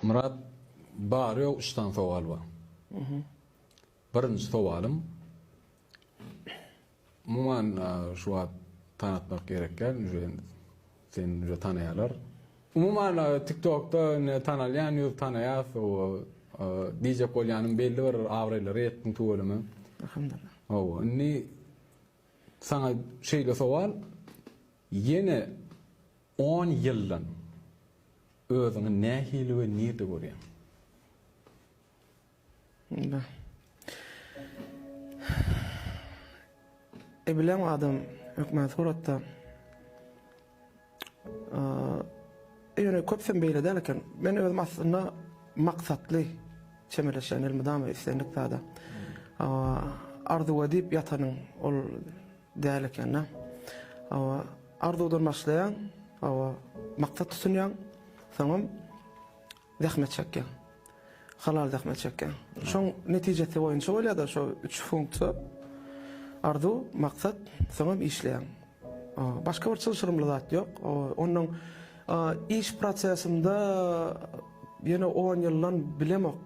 Myrat bary ýok üç sany sowal bar. Birinji sowalym umuman şu wagt tanatmak gerek däl uje seni uje tanaýalar. Umuman tiktokda indi tanalýan ýüz tanaýas oba diýjek bolýanym belli bir abraýlara ýetdiň tüweleme. Alhamdullah. Oba indi saňa şeýle sowal Ýene on ýyldan özüňi nähili we nirde görýäň? Indi Ebilen adam hökmän suratda ýöne köpüsem beýle däl eken. Men özüm aslynda maksatly çemeleşýän elmydama islendik zada. Arzuw edip ýatanyň ol Däl ekendä. Hawa, arzuwdan başlaýaň, hawa, maksat tutunýaň, soňam zähmet çekýäň. Halal zähmet çekýäň. Şoň netijesi boýunça bolýar-da şo üç funksiýa. Arzuw, maksat, soňam işleýäň. Başga bir çylşyrymly zat ýok. Onuň iş prosesinde ýene on ýyldan bilemok.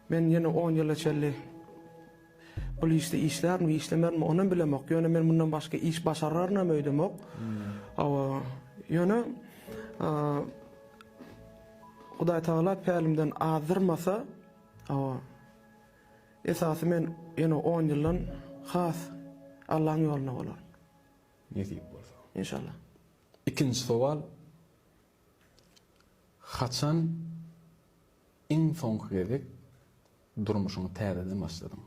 Men ýene on ýyla çenli Bul işde işlärmi, işlemärmi, onam bilemok. Ýöne men mundan başga iş başararynam öýdemok. Hawa, ýöne Hudaý Tagala pälimden azdyrmasa, hawa, esasy men ýene on ýyldan has Allaň ýoluna bolaryn. Nesip bolsa. Inşallah. Ikinji sowal. Haçan iň soňky gezek Durmuşyňy täzeden başladyň.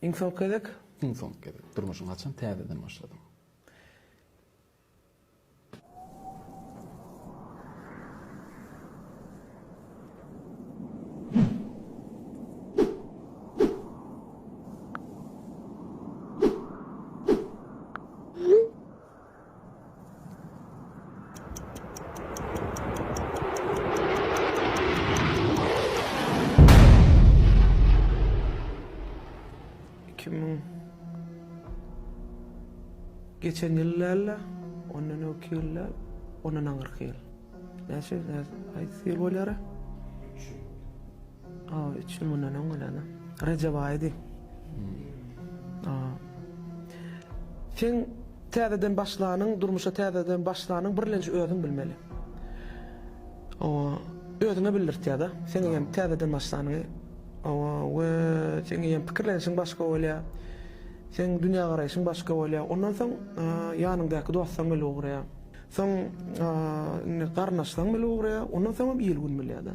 Iň soňky gezek. Iň soňky gezek. Durmuşyňy haçan täzeden başladyň? Geçen ýyl dälde, ondan öňki ýylda, ondan aňyrky ýyl. Näçe, haýsy ýyl bolara? A üç ýyl mundan öň gelendim. Rejep aýydy. A. Sen täzeden başlanyň, durmuşa täzeden başlanyň birlenji özüň bilmeli. O özüňe bildirtýär-de. Sen eýýäm täzeden başlanyňy. O we sen eýýäm pikirlenişiň başga bolýar. Sen dünýägaraýşyň başga bolýar. Ondan soň ýanyňdaky dostaň bilen ugraýar. Soň indi garyndaşlaň bile ugraýar, ondan soňam il-gün bilýär-de.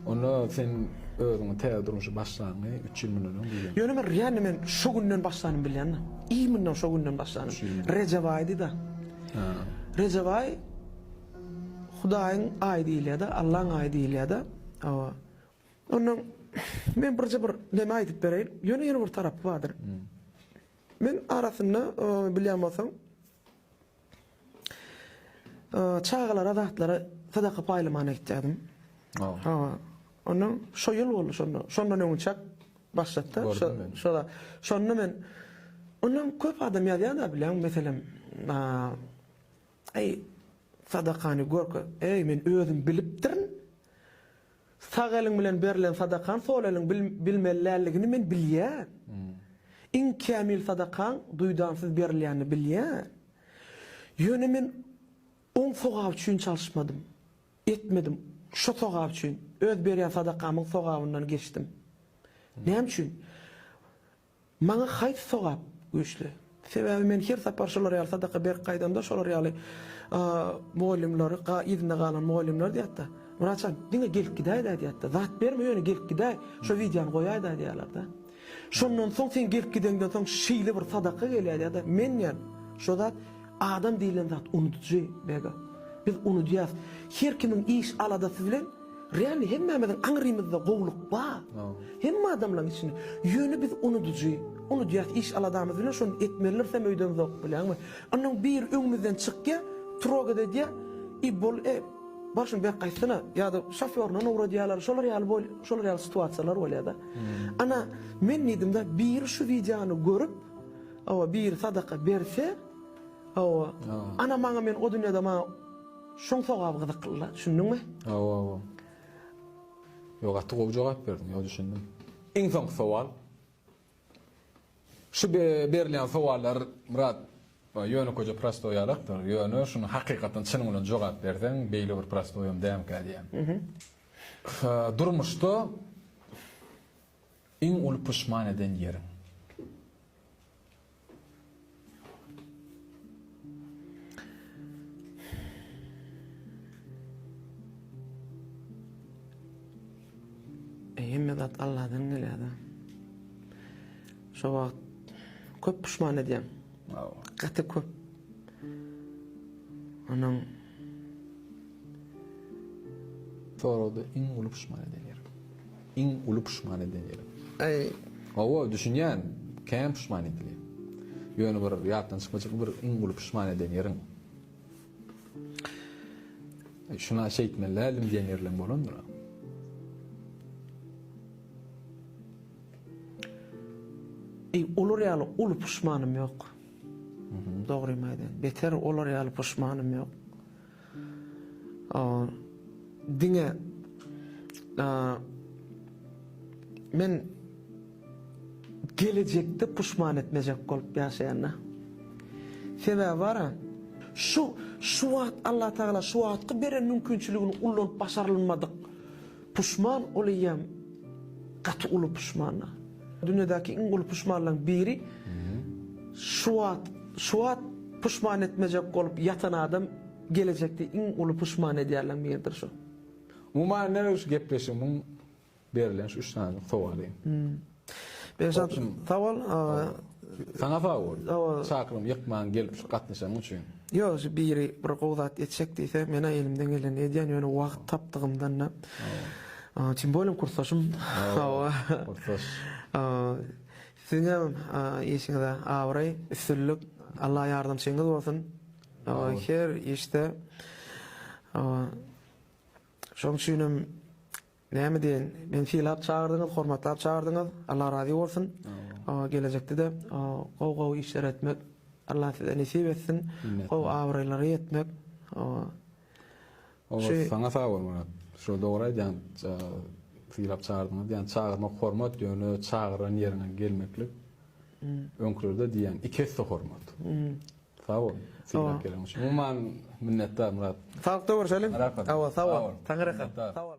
Onda sen özüňi täze durmuşa başlanyňy üç ýyl mundan öň bilýäňmi? Ýöne men realny men şo günden başlanym bilýän-de. Imенно şo günden başlanym. Rejep aýydy-da. Rejep aýy Hudaýyň aýy diýilýär-de, Allaň aýy diýilýär-de. Hawa. Ondan men birje bir näme aýdyp bereýin. Ýöne ýene bir tarapy bardyr. Men arasynda bilýän bolsaň çagalara zatlary sadaka paýlamagyna gitýärdim. Hawa. Ondan şo ýyl boldy şonda. Şondan öňünçäk başlapda. Şoda. Şonda men ondan köp adam ýazýar-da bilýän meselem Eý sadakany görke, eý men özüm bilipdirin. Sag eliň bilen berlen sadakaň sol eliň bilmeli däldigini men bilýän. Iň kämil sadakaň duýdansyz berilýänini bilýän. Ýöne men oň sogaby üçin çalyşmadym. Etmedim. Şo sogap üçin, öz berýän sadakamyň sogabyndan geçdim. Näme üçin? Maňa haýsy sogap güýçli? Sebäbi men her sapar şolar ýaly sadaka berip gaýdamda şolar ýaly mugallymlary, yzynda galan mugallymlar diýýärdi. Wraçam, diňe gelip gidäýdä diýýärdi. Zat berme ýöne gelip gidäý, şo wideony goýaýda diýýärlerdi. Şondan soň sen gelip gideňden soň şeýle bir sadaka gelýär ýa-da men diýýän şo zat adam diýlen zat unudyjy Bega. Biz unudýas. Her kimiň iş aladasy bilen Real hemmämiziň aňrymyzda gowluk bar. Hemme adamlaň içinde. Ýöne biz unudujy. Unudýas iş aladamyz bilen şony etmelirsem öýden zowk bilenmi. Onnoň biri öňümizden çykýa, trogat edýä i bol e bar şuny bek gaýtsana ýada şofýoryndan owradýalar şolar ýaly bol şolar ýaly situasiýalar bolýada. Ana men diýdimda biri şu wideony görüp hawa biri sadaka berse hawa ana maňa men o dünýäde maňa Şuň sogaby gyzyklyla düşündiňmi? Hawa hawa. Ýok gaty gowy jogap berdiň ýok düşündim. Iň soňky sowal. Şu berilýän sowallar Myrat ýönekeje prostoý ýalakdyr ýöne şuny hakykatdan çynyň bilen jogap berseň beýle bir prostoýam dämkä diýýän. Durmuşda Iň uly puşman eden ýeriň? Hemme zat Alladan gelýär-de. Şo wagt köp puşman edýän. Gaty köp. Onuň Soragda iň uly puşman eden ýeriň? Iň uly puşman edilen ýerim. Äý, hawa, düşünýän, kän puşman edilýär. Ýöne bir ýatdan çykmajak bir iň uly puşman edilen ýeriň. Şuna şeýtmeli däldim diýen ýerleň bolandyr. Äý, olar ýaly uly puşmanym ýok. Dogrymy aýdaýyn, beter olar ýaly puşmanym ýok. Diňe men gelejekde puşman etmejek bolup ýaşaýan-da. Sebäbi bar-a, şu, şu wagt Allatagala şu wagtky beren mümkinçiligini ullanyp başarylmadyk. Puşman ol eýýäm gaty uly puşmana. Dünýädäki iň uly puşmanlaň biri şu wagt şu wagt puşman etmejek bolup ýatan adam gelejekde iň uly puşman edýärleň biridir şu. Umuman näme şu gepleşigimiň berlen şu üç sanylyk sowaly. Berşat sag bol. Saňa sag bol. Çakylygymy ýykmaň gelip şu gatnaşanyň üçin. Ýok şu biri bir gowy zat etjek diýse mena elimden gelenini edýän ýöne wagt tapdygymdanda. Tim bolem kursdaşym. Hawa. Kursdaş. Siziňem işiňizde abraý, üstünlik. Allah ýardamçyňyz bolsun. Her işde. Şoň üçinem Näme diýen, meni sylap çagyrdyňyz, hormatlap çagyrdyňyz, Allah razy bolsun. Gelejekde-de gowy gowy işler etmek Allah size nesip etsin. Gowy abraýlara ýetmek. Olar saňa sag bol Murat. Şo dogry aýdýaň. Sylap çagyrdyňyz diýen çagyrmak hormat ýöne çagyran ýeriňe gelmeklik. Öňkülerde diýen iki esse hormat. Sag bol. Sylap gelen üçin. Umuman minnetdar Murat. Sagykda görşeliň. Awa sag bol. Taňyraka.